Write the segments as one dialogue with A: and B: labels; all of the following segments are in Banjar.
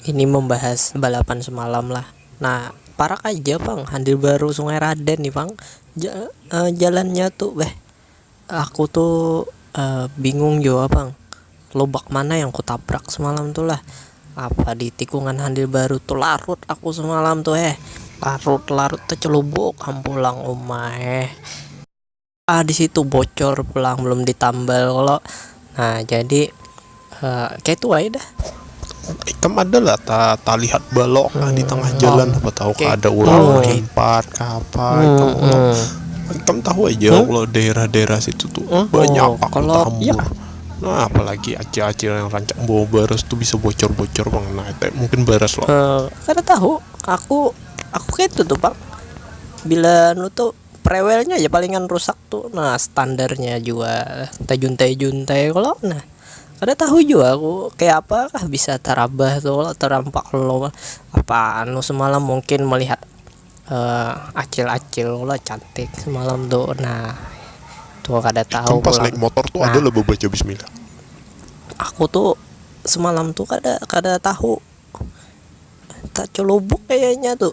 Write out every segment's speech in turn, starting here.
A: Ini membahas balapan semalam lah. Nah, parak aja pang handil baru sungai raden ni pang ja jalannya tu beh aku tu bingung jua pang lobak mana yang ku tabrak semalam tu lah apa di tikungan handil baru tu larut aku semalam tu eh larut larut tecelubuk am pulang uma eh. ah di situ bocor pulang belum ditambal kalau nah jadi uh, kayak itu aja dah ikam
B: ada lah ta, ta lihat balok lah di tengah hmm. jalan apa tahu okay. ada orang oh.
A: lipat
B: ke apa hmm. itu hmm. ikam tahu aja hmm? kalau daerah-daerah situ tuh hmm? banyak oh, pak kalau ya. Nah,
A: apalagi
B: acil-acil yang rancak bawa baras tuh bisa bocor-bocor bang. Nah, itu mungkin baras loh. Uh, eh, karena tahu,
A: aku aku kayak itu tuh bang. Bila nu tuh Prewelnya ja palingan rusak tu nah standarnya jua tajuntai-juntai kalo nah kada tahu jua aku kaya apa kah bisa tarabah tu kalo tarampak lalu apa anu semalam mungkin melihat acil-acil kalo cantik semalam tu nah itu kada tahu
B: aku
A: tu semalam tu kada kada tahu tacelubuk kayanya tu.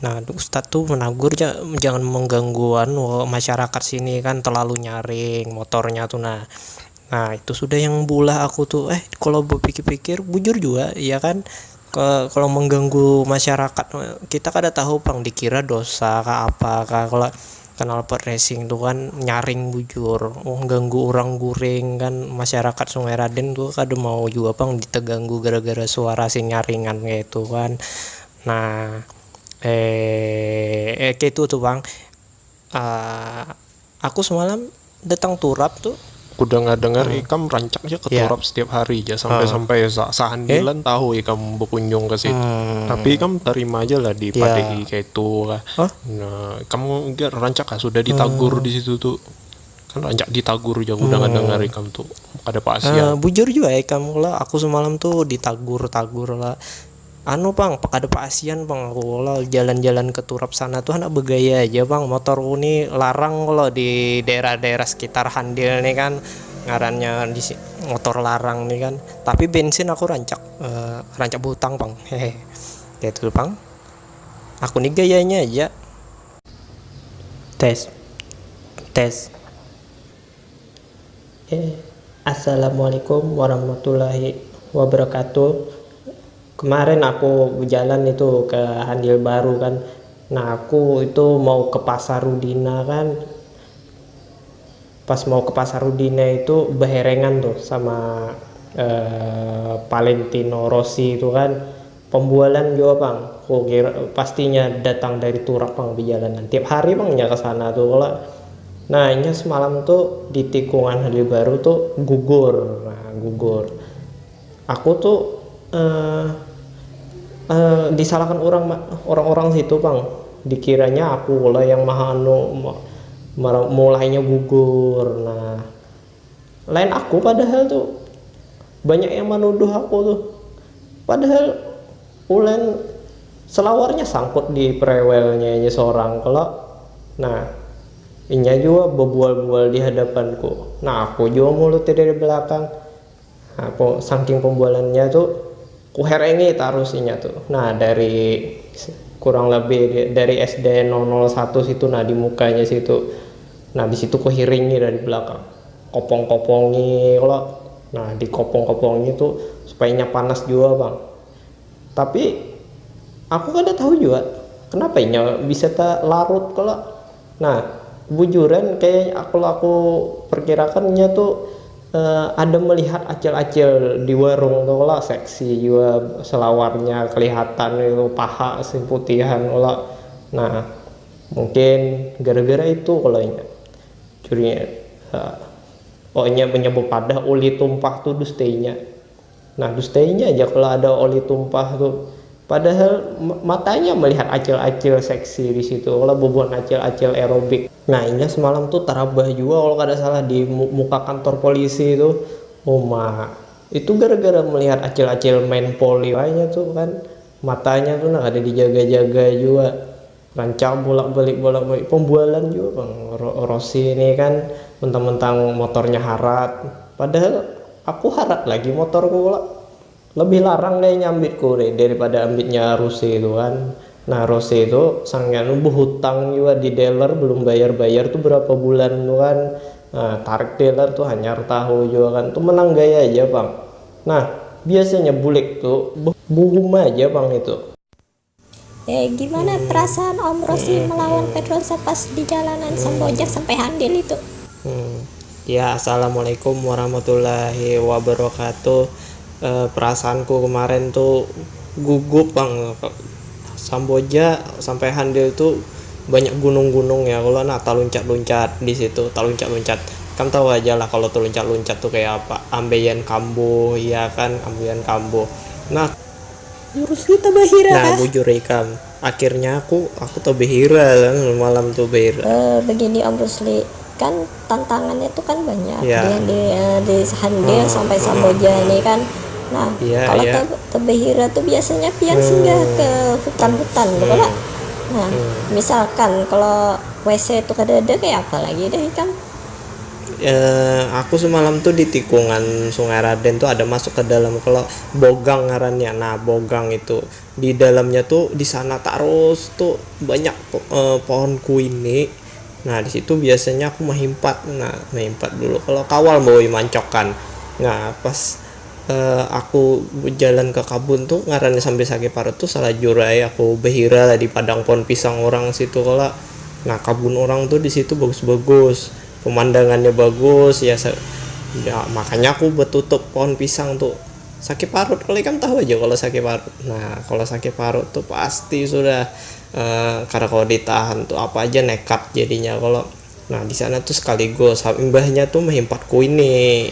A: Nah ustad tu menagur ja jangan mengganggu anu masyarakat sini kan terlalu nyaring motornya tu nah, nah itu sudah yang beulah aku tu eh kalo bepikir-pikir bujur jua iya kan kalo mengganggu masyarakat kita kada tahu pang dikira dosa kah apa kah kalo knalpot racing tu kan nyaring bujur mengganggu urang guring kan masyarakat sungai raden tu kada mau jua pang teganggu gara-gara suara si nyaringan ngetu kan. Nah, ee, keitu tu pang, aa, aku semalam datang turap tu. Aku dangar-dangar
B: hmm. ikam rancak ja ke ya. turap yeah. setiap hari ja sampai-sampai hmm. sampai sahandilan eh? tahu ikam berkunjung ke situ. Hmm. Tapi ikam terima aja lah di yeah. Ya. kayak itu lah. Huh? Nah, kamu enggak rancak lah sudah ditagur hmm. di situ tuh. Kan rancak ditagur aja aku hmm. dengar-dengar ikam tuh ada pasian. Uh, bujur juga ikam
A: lah aku semalam tuh ditagur-tagur lah Anu pang, kada paasian pang aku kalo jalan-jalan ke turap sana tu handak begaya aja pang, motorku ni larang kalo di daerah-daerah sekitar handil ni kan ngarannya motor larang ni kan, tapi bensin aku rancak rancak behutang pang hehe kaitu tu pang aku ni gayanya aja. Tes. Tes. Assalamualaikum warahmatullahi wabarakatuh kemarin aku bejalan itu ke handil baru kan nah aku itu mau ke pasar rudina kan pas mau ke pasar rudina itu beherengan tuh sama valentino rossi itu kan Pambualan jua pang, kukira pastinya datang dari turak pang bejalanan, tiap hari pang inya kesana tu kalo. Nah inya semalam tu di tikungan Halil Baru tu gugur, nah gugur. Aku tu eh eh disalahkan urang ma, urang-urang situ pang, dikiranya aku kalo yang maha anu ma, ma mulainya gugur, nah. Lain aku padahal tu. Banyak yang manuduh aku tu. Padahal uln selawarnya sangkut di prewelnya inya sorang kalo. Nah, inya jua bebual-bual di hadapanku. Nah aku jua mulutnya dari belakang. Saking pembualannya tu kuherengi tarus inya tu nah dari kurang lebih dari SD nol nol satu situ nah di mukanya situ nah di situ kuhiringi dari belakang kopong kopongi kalo nah di kopong kopongi tu supaya inya panas jua pang tapi aku kada tahu jua kenapa inya bisa talarut kalo. Nah, bujuran kaya aku aku perkirakan nya tu ada melihat acil-acil di warung tu kalo, seksi jua selawarnya kelihatan ngitu paha masih putihan kalo, nah mungkin gara-gara itu kalo inya curinya, oh inya menyebut padah ulih tumpah tu dustainya. Nah dustainya ja kalo ada oli tumpah tu. Padahal matanya melihat acil-acil seksi di situ kalo bubuhan acil-acil aerobik. Nah inya semalam tu tarabah jua kalo kada salah di muka kantor polisi tu. Uma, itu gara-gara melihat acil-acil main poli wayahnya tu kan. Matanya tu nah kada dijaga-jaga jua. Rancak bulak balik bulak balik pembualan jua pang Rosy nih kan mentang mentang motornya harat padahal aku harat lagi motorku kalo lebih larang kaya nya ambitku nih daripada ambitnya Rosy tuh kan nah Rosy tuh saking anu behutang jua di dealer belum bayar bayar tuh berapa bulan tuh kan nah tarik dealer tuh hanyar tahu jua kan tuh menang gaya aja pang nah biasanya bulik tuh buhum aja pang itu. Gimana
C: perasaan Om Rosi melawan Pedrosa pas di jalanan sambil ojek sampai handil itu?
A: Ya assalamualaikum warahmatullahi wabarakatuh, perasaanku kemarin tu gugup pang samboja sampai handil tu banyak gunung-gunung ya kalo nah taluncat-luncat disitu taluncat-luncat kan tau aja lah kalo taluncat-luncat tu kaya apa ambeien kambuh iya kan ambeien kambuh nah. Jurusnya
C: tabahira kah? Nah
A: bujur ikam. Akhirnya aku aku tabahira malam tu bahira. Uh begini Om Rusli,
C: kan tantangannya tu kan banyak yeah. yang di, uh,
A: di
C: Hande hmm. sampai hmm. Samboja hmm. ini kan. Nah, yeah, kalau yeah. tabahira tu biasanya pian hmm. singgah ke hutan-hutan hmm. Betul, Nah, hmm. misalkan kalau WC itu kada ada kayak apa lagi deh ikam? eh,
A: aku semalam tuh di tikungan Sungai Raden tuh ada masuk ke dalam kalau bogang ngarannya nah bogang itu di dalamnya tuh di sana tarus tuh banyak eh, pohon kuini nah di situ biasanya aku mahimpat nah mahimpat dulu kalau kawal bawa mancokan nah pas eh, aku bejalan ke kabun tuh ngarannya sambil sakit parut tuh salajur ai aku behira lah di padang pohon pisang orang situ kalo nah kabun orang tuh di situ bagus-bagus. pemandangannya bagus ya sa ya makanya aku betutup pohon pisang tuh sakit parut kalau ikan tahu aja kalau sakit parut nah kalau sakit parut tuh pasti sudah e, karena kalau ditahan tuh apa aja nekat jadinya kalau nah di sana tuh sekaligus imbahnya tuh mehimpat kuini